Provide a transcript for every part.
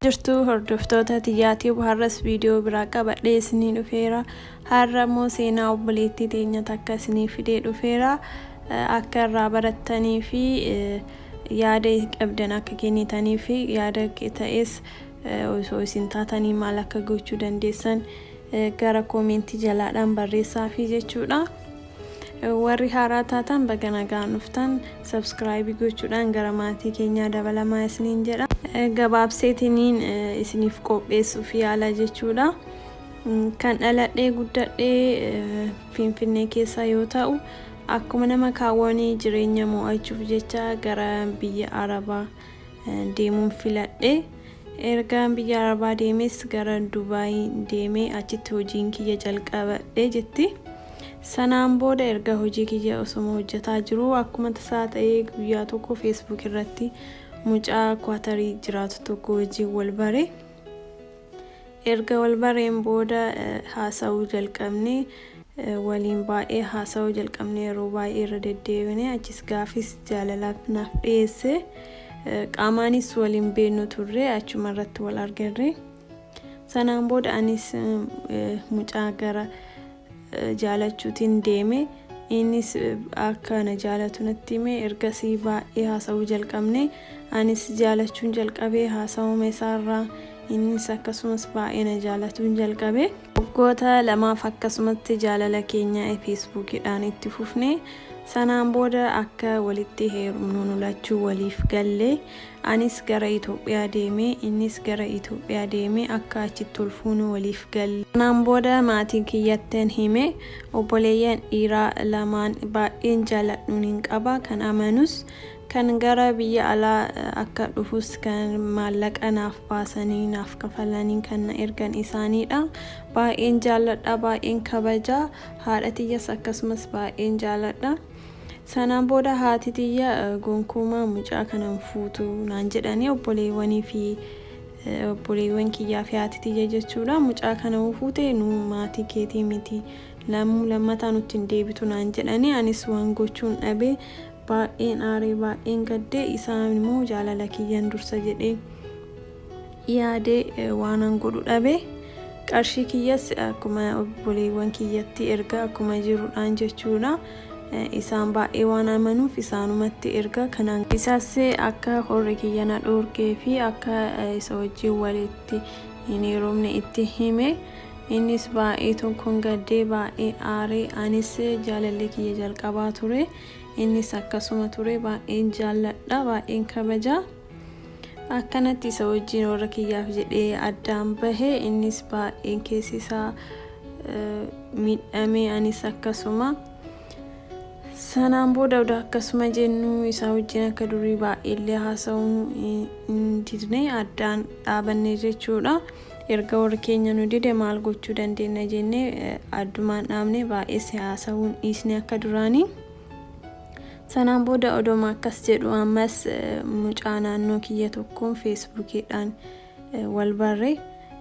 jirtu hordoftoota tiyyaatii har'as viidiyoo biraa qabadhee isinii dhufeera har'a immoo seenaa obboleettii teenya takka isinii fidee dhufeera akka irraa barattanii fi yaada qabdan akka kennitanii fi yaada ta'es osoo isin taatanii maal akka gochuu dandeessan gara koomentii jalaadhaan barreessaa fi jechuudha. Warri haaraa taatan baga nagaan dhuftan. Subscribe gochuudhaan gara maatii keenyaa dabalamaa isiniin jedha. Gabaabseetiniin isiniif qopheessuuf yaala jechuudha. Kan dhaladhee guddadhee Finfinnee keessa yoo ta'u akkuma nama kaawwanii jireenya mo'achuuf jecha gara biyya Arabaa deemuun filadhe. Ergaan biyya Arabaa deemes gara Dubaay deemee achitti hojiin kiyya jalqabadhe jetti. Sanaan booda erga hojii kiyya osoma hojjetaa jiruu akkuma tasaa ta'ee guyyaa tokko Facebook irratti mucaa Kwaatarii jiraatu tokko wajjin wal bare. Erga wal bareen booda haasa'uu jalqabne. Waliin baay'ee haasa'uu jalqabne yeroo baay'ee irra deddeebine achis gaafis jaalalaaf naaf dhiyeesse. Qaamaanis waliin beeknu turre achuma irratti wal argerre. Sanaan booda anis mucaa gara jaalachuutiin deeme. Innis akka na jaalatu natti hime. Ergasii baay'ee haasa'uu jalqabne. Anis jaalachuun jalqabe haasa'uma isaarraa. Innis akkasumas baay'ee na jaalatuun jalqabe. Waggoota lamaaf akkasumatti jaalala keenya feesbuukiidhaan itti fufne. Sanaan booda akka walitti heerumnu nu lachuu waliif galle. Anis gara Itoophiyaa deeme, innis gara Itoophiyaa deeme, akka achitti ol fuunu waliif galle. Kanaan booda maatii kiyyattin hime. Obboleeyyan dhiiraa lamaan baay'een jaaladhuunin qaba. Kan amanus, kan gara biyya alaa akka dhufus kan maallaqa naaf baasanii, naaf kafalanii kan na ergan isaaniidha. Baay'een jaalladha, baay'een kabaja. Haadha tiyyas akkasumas baay'een jaaladha. Sanaan booda haati tiyya gonkumaa mucaa kana hin fuutu naan jedhanii obboleewwanii fi obboleewwan kiyyaa fi haati tiyya jechuudha mucaa kana yoo fuute nu maatii keetii miti lammuu lammataa nutti hin deebitu naan jedhanii anis waan gochuun dhabee baay'een aaree baay'een gaddee isaan immoo jaalala kiyyan dursa jedhee yaade waanan godhu dhabe. Qarshii kiyyas akkuma obboleewwan kiyyatti erga akkuma jirudhaan jechuudha. Isaan baay'ee waan amanuuf isaanumatti erga kanaan Isas akka horri kiyya na dhoorgee fi akka isa wajjin walitti hin heerumne itti hime. Innis baay'ee tokkoon gaddee baay'ee aaree anis jaalallee kiyya jalqabaa ture. Innis akkasuma ture baay'een jaalladha baay'een kabaja. akkanatti isa wajjin warra kiyyaaf jedhee addaan bahe innis baay'een keessi isaa miidhamee anis akkasuma sanaan booda odaa akkasuma jennu isaa wajjin akka durii baay'eellee haasa'uu hin didne addaan dhaabanne jechuudha erga warri keenya nu dide maal gochuu dandeenya jennee addumaan dhaabne baay'ees haasa'uun dhiisne akka duraanii. Sanaan booda odoma akkas jedhu ammas mucaa naannoo kiyya tokkoon feesbuukiidhaan wal barre.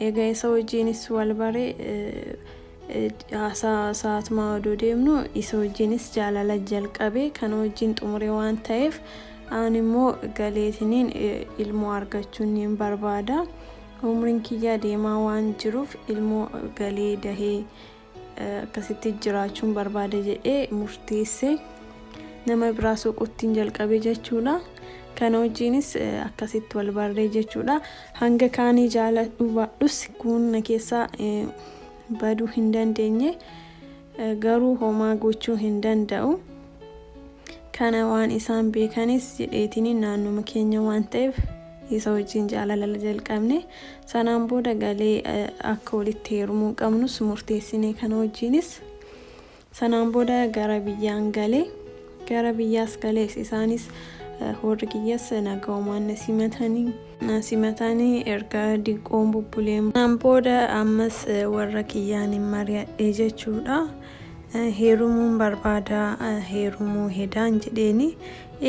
Egaa isa wajjiinis wal barre haasaa sa'aatumaa odoo deemnu isa wajjiinis jaalala jalqabe kana wajjiin xumure waan ta'eef aan immoo galeetiniin ilmoo argachuun niin barbaada. Umriin kiyyaa deemaa waan jiruuf ilmoo galee dahee akkasitti jiraachuun barbaada jedhee murteesse nama biraa soquuttiin jalqabe jechuudha kana wajjiinis akkasitti wal barree jechuudha hanga kaanii jaaladhu baadhus kun na keessaa baduu hin dandeenye garuu homaa gochuu hin danda'u kana waan isaan beekanis jedheetini naannuma keenya waan ta'eef Isa wajjin jaalala jalqabne. Sanaan booda galee akka walitti heerumuu qabnus murteessine kana wajjinis. Sanaan booda gara biyyaan gale. Gara biyyaas galees isaanis warri kiyyas naga'umaan na simatanii. Na simatanii erga diqqoon bubbuleen. Sanaan booda ammas warra kiyyaan hin mari'adhe jechuudha. heerumuun barbaada heerumuu hedaan jedheeni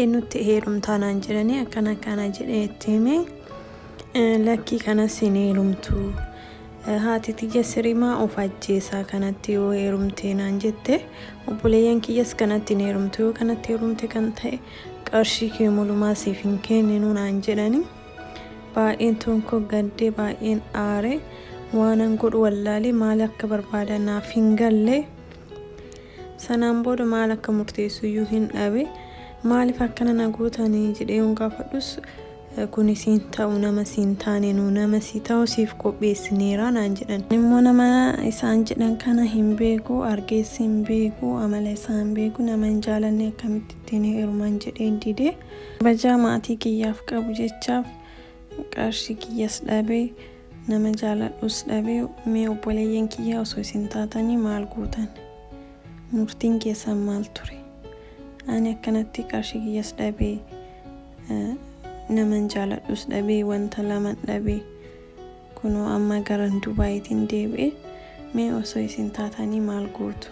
eenyutti heerumtaa naan jedhanii akkana akkana jedhee itti hime lakkii kanas hin heerumtu haati tiyya sirimaa of ajjeesaa kanatti yoo heerumtee naan jette obboleeyyan kiyyas kanatti hin heerumtu yoo kanatti heerumte kan ta'e qarshii kee mulumaa siif hin kenninu naan jedhanii Baay'een tuun koo gaddee baay'een aare waanan godhu wallaalee maal akka barbaada naaf hin galle sanaan booda maal akka murteessu iyyuu hin dhabe maaliif akkana na gootanii jedhee yoon gaafadhus kun isiin ta'u nama siin taane nu nama si ta'u siif qopheessineera naan jedhan immoo nama isaan jedhan kana hin beeku argees hin beeku amala isaa hin beeku nama hin jaalanne akkamitti ittiin heeruman jedhee didee Kabajaa maatii kiyyaaf qabu jechaaf qarshii kiyyas dhabe, nama jaaladhus dhabe, mee obboleeyyan kiyya osoo isin taatanii maal gootan? Murtiin keessan maal ture? Ani akkanatti qarshii kiyyas dhabe, naman jaaladhus dhabe, wanta laman dhabe. Kunoo amma garan Dubaayitin deebi'e mee osoo isin taatanii maal gootu?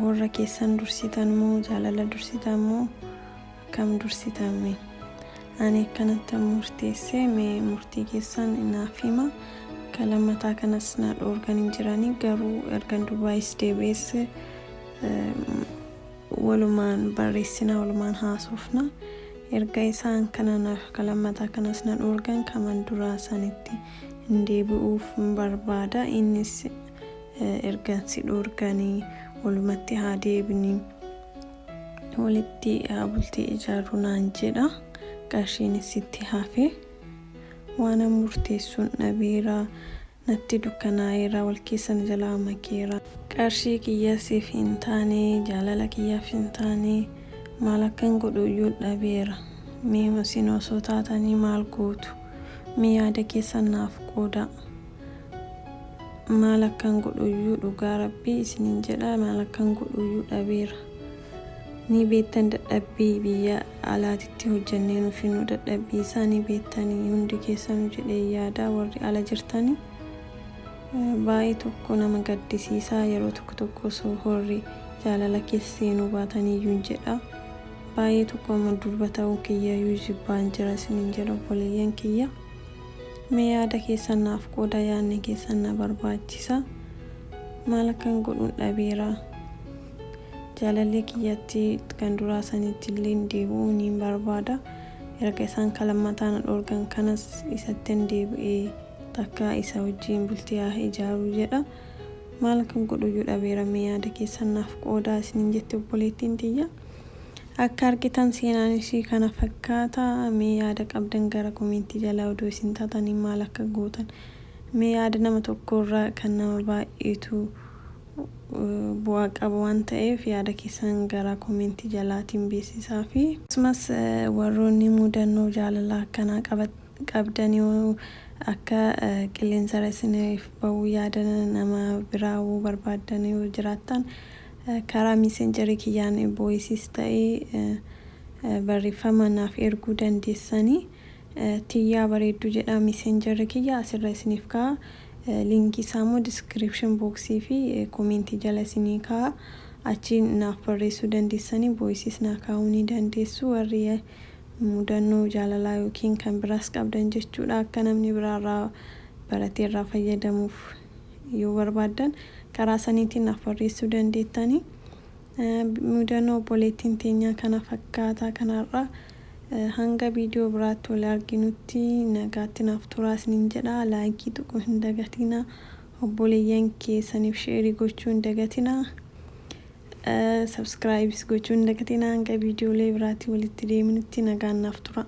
Warra keessan dursitan moo jaalala dursitan moo akkam dursitan mee? Ani akkanatti murteesse mee murtii keessan naaf hima. Akka lammataa kanas na dhoorgan hin jiranii garuu ergan Dubaayis deebi'ees walumaan barreessina, walumaan haasofna. Erga isaan kana na, ka lammataa kanas na dhoorgan kaman duraa sanitti hin deebi'uuf hin barbaada. Innis eh, ergan si dhoorganii walumatti haa deebini walitti haa bultii ijaarru naan jedha. Qarshiinis sitti hafe. Waanan murteessuun dhabeera. Natti dukkanaa'eera, wal keessa na jalaa makeera. Qarshii kiyya siif hin taane, jaalala kiyyaaf hin taane, maal akkan godhu iyyuu dhabeera. Mee isin osoo taatanii maal gootu? Mee yaada keessan naaf qoodaa. Maal akkan godhu iyyuu dhugaa Rabbii isiniin jedha, maal akkan godhu iyyuu dhabeera. Ni beektan dadhabbii biyya alaatitti hojjannee nu finnu dadhabbii isaa ni beettanii hundi keessanu jedhee yaadaa warri ala jirtani baay'ee tokko nama gaddisiisaa yeroo tokko tokko osoo horri jaalala keessa seenuu baataniiyyuun jedha baay'ee tokko amma durba ta'uu kiyyayyuu jibbaan jira isiniin jedha obboleeyyan kiyya mee yaada keessan naaf qooda yaadni keessan na barbaachisa maal akkan godhuun dhabeera Jaalallee kiyyatti kan duraa sanittilleen deebi'uu niin barbaada. Erga isaan ka lammataa na dhoorgan kanas isattin deebi'ee takkaa isa wajjiin bultii haa ijaaruu jedha. Maal akkan godhuyyuu dhabeera mee yaada keessan naaf qoodaa isiniin jetti obboleettiin tiyya. Akka argitan seenaan ishii kana fakkaata. Mee yaada qabdan gara komentii jalaa odoo isin taatanii maal akka gootan. Mee yaada nama tokkoorraa kan nama baay'eetu bu'aa qaba waan ta'eef yaada keessan gara comment jalaatiin beeksisaafi. Akkasumas warroonni mudannoo jaalalaa akkanaa qabdan yoo akka qilleensarra isiniif ba'uu yaada nama biraa hawwuu barbaaddan yoo jiraattan karaa messenger kiyyaan voices ta'ee barreeffamaan naaf erguu dandeessani. Tiyyaa bareedduu jedhaa messenger kiyya asirra isiniif ka'a. Linkii isaa immoo description box fi comment jala isinii kaa'a. Achii naaf barreessuu dandeessanii voices naa kaa'uu ni dandeessu. Warri mudannoo jaalalaa yookiin kan biraas qabdan jechuudha. Akka namni biraa irraa baratee irraa fayyadamuuf yoo barbaaddan karaa saniitiin naaf barreessuu dandeettanii. Mudannoo obboleettiin teenyaa kana fakkaata kan har'aa. Hanga viidiyoo biraatti wal arginutti nagaatti naaf turaa isiniin jedha. Laayikii tuquu hin dagatina. Obboleeyyan keessaniif sheerii gochuu hin dagatina. Sabskiraayibis gochuu hin dagatina. Hanga viidiyoolee biraatti walitti deeminutti nagaan naaf turaa.